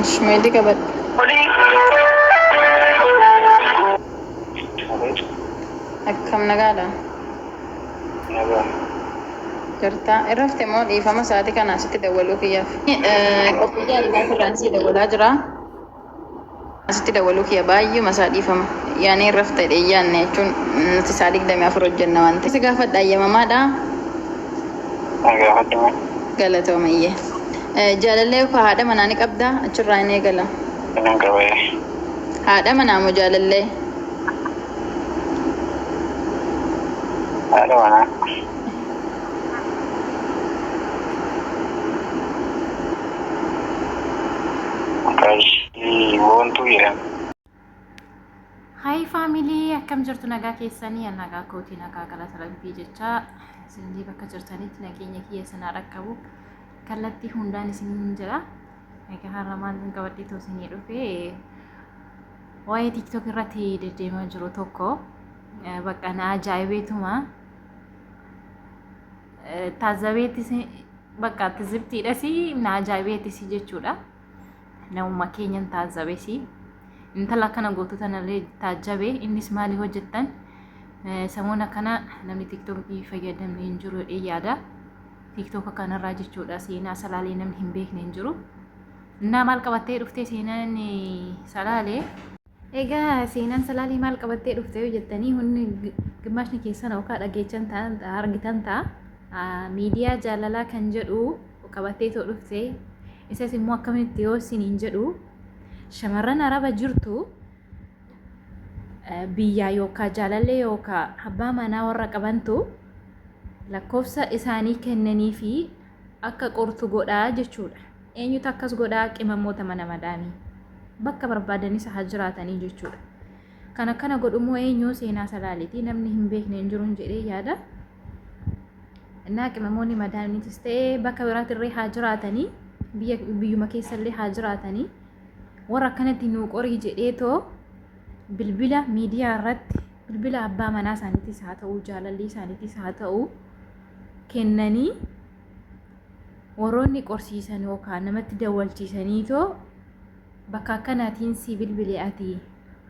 Ishi meelli qabadhu. Akkam nagaadha? Jirta? Irrafte moo dhiifama sa'aatii kana asitti dawwaluu kiyyaaf? Qophii jaalalaa irraan sii dawwalaa jira. Asitti dawwaluu kiyya baay'eema isaa dhiifama. Yaanee hin rafta jedhee hin yaanne jechuun nuti sa'a 24 hojjenna waan ta'eef. Si gaafadha hayyamamaadhaa? Na gaafadhu mee. Galatoomi iyyee. Jaalallee yookaan haadha manaa ni qabdaa? Achirraa hin eegala. Ee nan qaba ee. Haadha manaa moo jaalallee? Haadha manaa. Qarshii boontuu jedhama. Hayi faamilii akkam jirtu nagaa keessanii an nagaa kootii nagaa galata rabbii jecha isinillee bakka jirtanitti nageenya kiyya isinaa dhaqqabu kallattii hundaan isiniin jira egaa har'a maal hin qabadhee too isinii dhufe waa'ee tiktok irratti deddeemaa jiru tokko bakka na ajaa'ibeetuma taazabeetis bakka tizibtiidhas na ajaa'ibeetis jechuudha. Namuma keenyan taazabes intala akkana gootu tanallee taajabee innis maali hojjettan samoona kana namni tiktookii fayyadamne hin jiru jedhee yaada. Tiktooka kanarraa jechuudha seenaa salaalee namni hin beekne hin jiru. Innaa maal qabattee dhuftee seenaan salaalee Egaa seenaan salaalii maal qabattee dhufte yoo jettanii hundi gimmaashni keessan yookaan dhageechan ta'an argitan ta'a miidiyaa jaalalaa kan jedhu qabattee too dhufte isas immoo akkamitti yoo isiniin jedhu shamarran araba jirtu biyyaa yookaan jaalallee yookaan abbaa manaa warra qabantu lakkoofsa isaanii kennanii fi akka qortu godhaa jechuudha. Eenyutu akkas godha? Qimamoota mana madaamii. Bakka barbaadanis haa jiraatanii jechuudha. Kan akkana godhu immoo eenyu seenaa salaaleeti. Namni hin beekne hin jiruun jedhee yaada. Innaa qimamoonni madaamiitis ta'ee bakka biraatirree haa jiraatanii biyya biyyuma keessallee haa jiraatanii warra akkanatti nuu qorii jedhee too bilbila miidiyaa irratti bilbila abbaa manaa isaaniitis haa ta'u jaalallii isaaniitis haa ta'u kennanii warroonni qorsiisan yookaan namatti dawwalchiisaniitoo bakka akkanaatiin si bilbile ati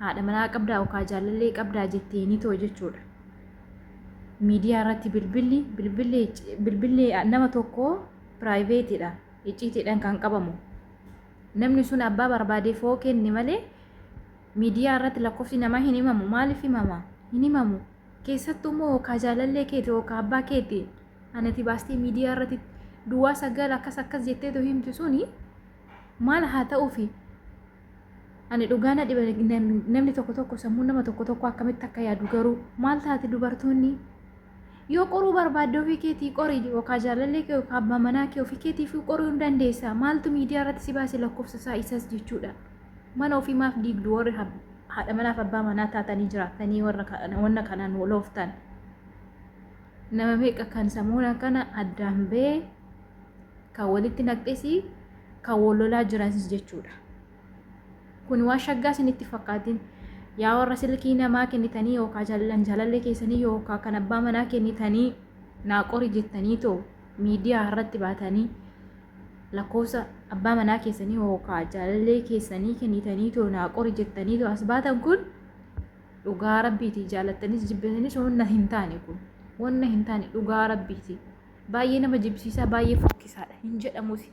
haadha manaa qabdaa yookaan jaalallee qabdaa jetteeniitoo jechuudha. Miidiyaa irratti bilbilli bilbilli bilbilli nama tokko piraayiveetiidha icciitiidhaan kan qabamu. Namni sun abbaa barbaade foo kenne malee miidiyaa irratti lakkoofsi namaa hin himamu maaliif himama hin himamu Keessattuu moo kaa jaalallee keeti ok kaa abbaa keeti anati baastee miidiyaa irrati duwaa sagal akkas akkas jetteetu himtu suni maal haa ta'ufi ani dhugaa na dhiba namni tokko tokko sammuu nama tokko tokko akkamitti akka yaadu garuu maal taati dubartoonni yoo qoruu barbaadde ofii keetii qorii ok kaa jaalallee kee ok kaa abbaa manaa kee ofii keetiif qoruu hin dandeessa maaltu miidiyaa irratti si baase lakkoofsa isaa isas jechuudha mana ofii maaf diigdu warri Haadha manaa fi abbaa manaa taatanii jiraattanii warra kana- wanna kanaan wal ooftan nama meeqa kan samuuna kana addaan ba'ee kan walitti naqxesii kan wal lolaa jiranis jechuudha. Kun waan shaggaa isinitti fakkaatin yaa warra silkii namaa kennitanii yookaan jaalallan jaalallee keessanii yookaan kan abbaa manaa kennitanii naa qori jettanii too miidiyaa irratti baatanii lakkoofsa abbaa manaa keessanii hookaa jaalallee keessanii kennitanii too naa qori jettanii too as baatan kun dhugaa rabbiiti jaalattanis jibbitanis wanna hin taane kun wanna hin taane dhugaa rabbiiti baay'ee nama jibbisiisaa baay'ee fokkisaadha hin jedhamusi.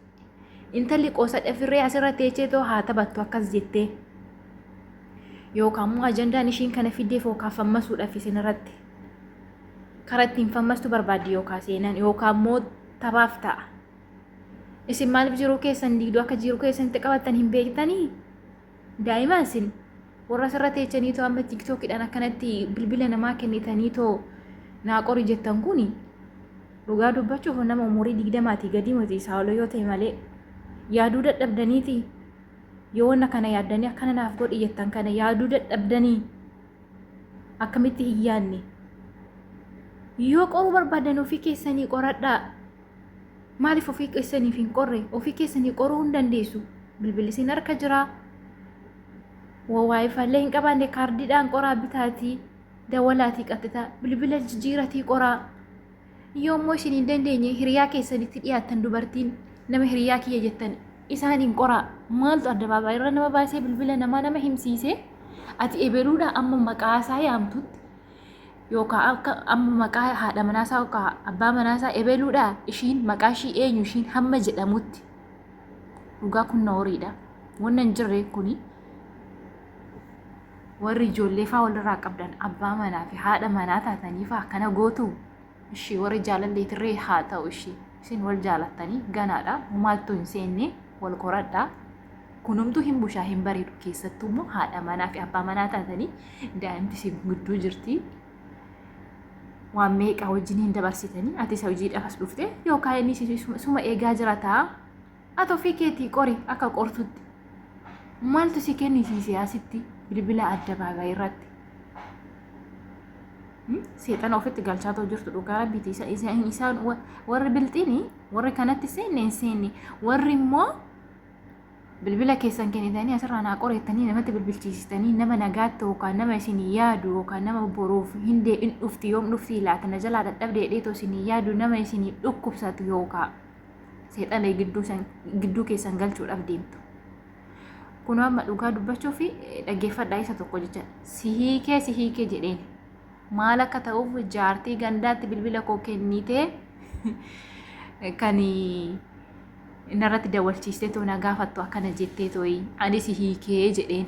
Intalli qoosadha firree asirra teechee too haa taphattu akkas jettee. Yookaan immoo ajandaan ishiin kana fiddeef yookaan fammasuudhaaf isin irratti. Karaa ittiin fammastu barbaaddi yookaan seenan yookaan immoo taphaaf ta'a. Isin maaliif jiruu keessan diigdu akka jiruu keessanitti qabattan hin beektanii? Daa'ima isin warra asirra teechanii too amma tiktookidhaan akkanatti bilbila namaa kennitanii too naa qori jettan kun dhugaa dubbachuuf nama umurii digdamaatii gadii miti isaa ol yoo ta'e malee yaaduu dadhabdaniiti yoo wanna kana yaaddanii akkana naaf godhi jettan kana yaaduu dadhabdanii akkamitti hin yaadne yoo qoruu barbaadan ofii keessanii qoradhaa Maaliif ofii keessaniif hin qorre? Ofii keessanii qoruu hin dandeessu. Bilbilli isin harka jira. Waayifaallee hin qabaanne kaardiidhaan qoraa bitaatii dawalaatii qaxxitaa bilbila jijjiiratii qoraa. Yoommoo isin hin dandeenye hiriyaa keessanitti dhiyaattan dubartiin nama hiriyaa kiyya jettan isaan hin qoraa. Maaltu addabaabaa irra nama baasee bilbila namaa nama himsiisee ati ebeluudha amma maqaa isaa yaamtutti yookaan akka amma maqaa haadha manaasaa yookaan abbaa manaasaa ebeluudha ishiin maqaa ishii eenyu ishiin hamma jedhamutti dhugaa kun nooriidha wanna hin jirre kuni warri ijoollee faa walirraa qabdan abbaa manaa fi haadha manaa taataniifaa kana gootu Ishii warri jaalallee tirree haa ta'u ishii. Isin wal jaalattanii ganaadha. Maaltu hin seenne wal qoradha. Kunumtuu hin bushaa hin bareedu keessattuu immoo haadha manaa fi abbaa manaa taatanii daa'imti isin gudduu jirti. Waan meeqa wajjin hin dabarsitanii ati isa hojiidhaaf as dhufte yookaan inni suma eegaa jira ta'a. Ati ofii keetii qori akka qortutti maaltu si kennisiise asitti bilbila addabaabaayii irratti? Seexana ofitti galchaatoo jirtu dhugaa rabbiiti. Isaan warri bilxiini warri kanatti seenne hin seenne warri immoo bilbila keessan kennitanii asirraa naa qoreettanii namatti bilbilchiisitanii nama nagaatti yookaan nama isin yaadu yookaan nama boruuf hin deebiin dhufti yoom dhufti laata na jalaa dadhabdee dheetoo isin yaadu nama isin dhukkubsatu yookaan. seexana gidduu san- gidduu keessan galchuudhaaf deemtu kunoo amma dhugaa dubbachuu fi dhaggeeffadhaa isa tokko jecha si hiikee si hiikee jedheen maal akka ta'uuf jaartii gandaatti bilbila koo kennitee kan narratti dawalchiistee too na gaafattu akkana jettee tooyi ani si hiikee jedheen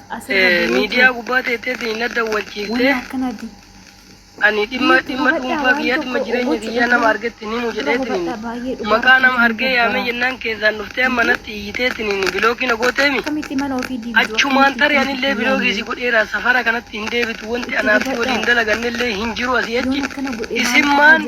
miidiyaa gubbaa teetteetiin na dawwachiifte ani dhimma dhimma dhuunfaa kiyyaa dhimma jireenya kiyyaa nama argetti ni mujedheetiin maqaa nama argee yaamee jennaan keessaan dhuftee amma natti iyiteetiin bilookii na gooteemi achumaan tarii anillee bilookii si godheera safara kanatti hin deebitu wanti anaaf si waliin dalagannellee hin jiru asii achi isimmaan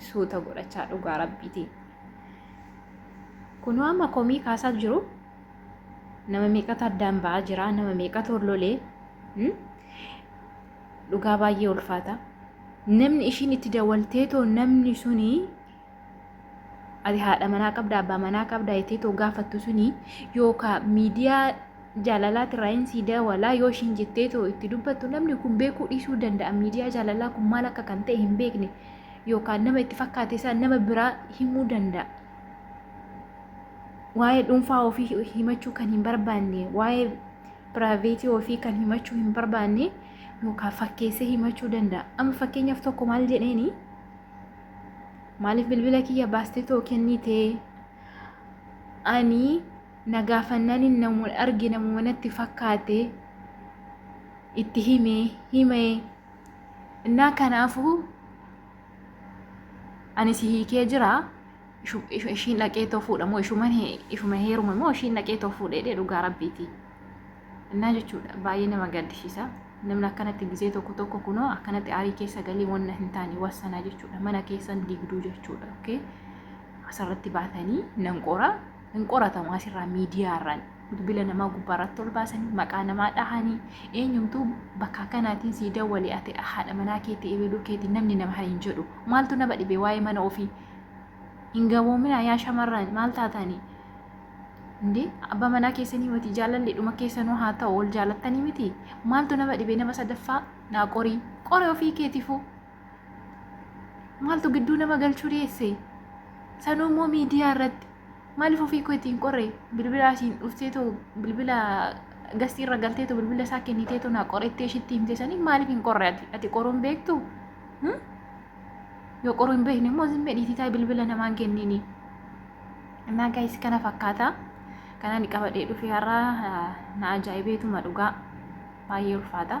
suuta godhachaa dhugaa rabbiitiin. Kunoo amma komii kaasaa jiru nama meeqatu addaan ba'aa jira nama meeqatu hollolee dhugaa baay'ee ulfaata. Namni ishiin itti dawaltee too namni suni ati haadha manaa qabda abbaa manaa qabda jettee too gaafattu suni yookaan miidiyaa jaalalaa tiraayin sii daawalaa yoo ishiin jettee too itti dubbattu namni kun beekuu dhiisuu danda'a miidiyaa jaalalaa kun maal akka kan ta'e hin beekne yookaan nama itti fakkaate isaa nama biraa himuu danda'a. Waa'ee dhuunfaa ofii himachuu kan hin barbaanne waa'ee piraayiveetii ofii kan himachuu hin barbaanne yookaan fakkeessee himachuu danda'a. Amma fakkeenyaaf tokko maal jedheeni maaliif bilbila kiyya baastee too kennitee ani Na gaafannanin namu arge namuma natti fakkaate itti hime hime innaa kanaafu ani si hiikee jira ishu- ishu- ishiin dhaqee too fuudha moo ishuman he- ishuma heerume moo ishiin dhaqee too fuudhee dhee dhugaa rabbiiti innaa jechuudha baay'ee nama gaddisiisa namni akkanatti gizee tokko tokko kunoo akkanatti aarii keessa galii wanna hin taane wassanaa jechuudha mana keessan digduu jechuudha okay asirratti baatanii nan qoraa hin qoratamu asirraa miidiyaarraan bilbila namaa gubbaarratti ol baasanii maqaa namaa dhahanii eenyumtuu bakka akkanaatiin sii dawwale ati haadha manaa keetii ebeeluu keetii namni nama hin jedhu maaltu nama dhibee waa'ee mana ofii hin gaboominaa yaa shamarraan maal taataanii Indee abbaa manaa keessanii miti jaalalli dhuma keessanuu haa ta'u ol jaalattanii miti maaltu nama dhibee nama sadaffaa naa qorii qore ofii keetiifuu maaltu gidduu nama galchuu dhiyeesse sanuu immoo miidiyaa irratti maaliif ofii koo ittiin qorre bilbila asiin dhuftee too bilbila gastii irra galtee too bilbila isaa kennitee too naa qorettee ishitti himte sanii maaliif hin qorre ati ati qoruun beektu yoo qoruu hin beekne immoo zimmee dhiititaa bilbila namaan kenniini innaa gaayis kana fakkaata kanaan qabadhee dhufee har'a na ajaa'ibeetuma dhugaa baay'ee ulfaata.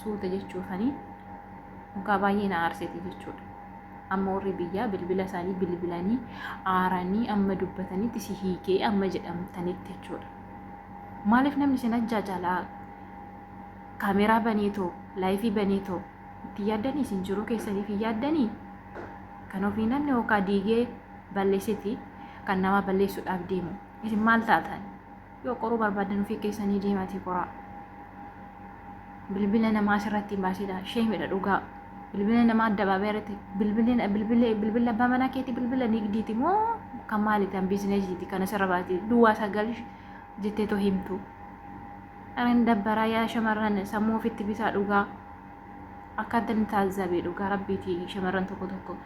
suuta jechuufanii mukaa baay'ee na aarsite jechuudha. Amma warri biyyaa bilbila isaanii bilbilanii aaranii amma dubbatanitti si hiikee amma jedhamtanitti jechuudha. Maaliif namni isin ajjaa jaalaa kaameeraa banee too laayifii banee too itti yaaddanii isin jiruu keessaniif hin yaaddanii kan ofii namni hookaa diigee balleessiti kan namaa balleessuudhaaf deemu isin maal taatan? Yoo qoruu barbaaddan ofii keessanii deematii qoraa. Bilbila namaa asirratti hin baasinaa. Sheemidha dhugaa. Bilbila namaa addabaabee irratti bilbila bilbila bilbila abbaa manaa keetii bilbila nigdiiti moo kan maali kan biizineesiiti kan asirra baatee duwwaa sagal jettee too himtu. Aran dabbaraa yaa shamarran sammuu ofitti bitaa dhugaa. Akkaan tan taazzabe dhugaa rabbiitiin shamarran tokko tokko.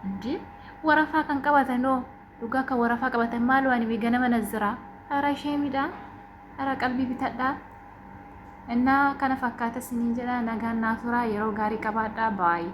Injii warafaa kan qabatan hoo Dhugaa kan warafaa qabatan maaloo ani bee ganama nazziraa ara sheemidha ara qalbii bitadha innaa kana fakkaata siniin jedha nagaan naa turaa yeroo gaarii qabaadha baay'ee.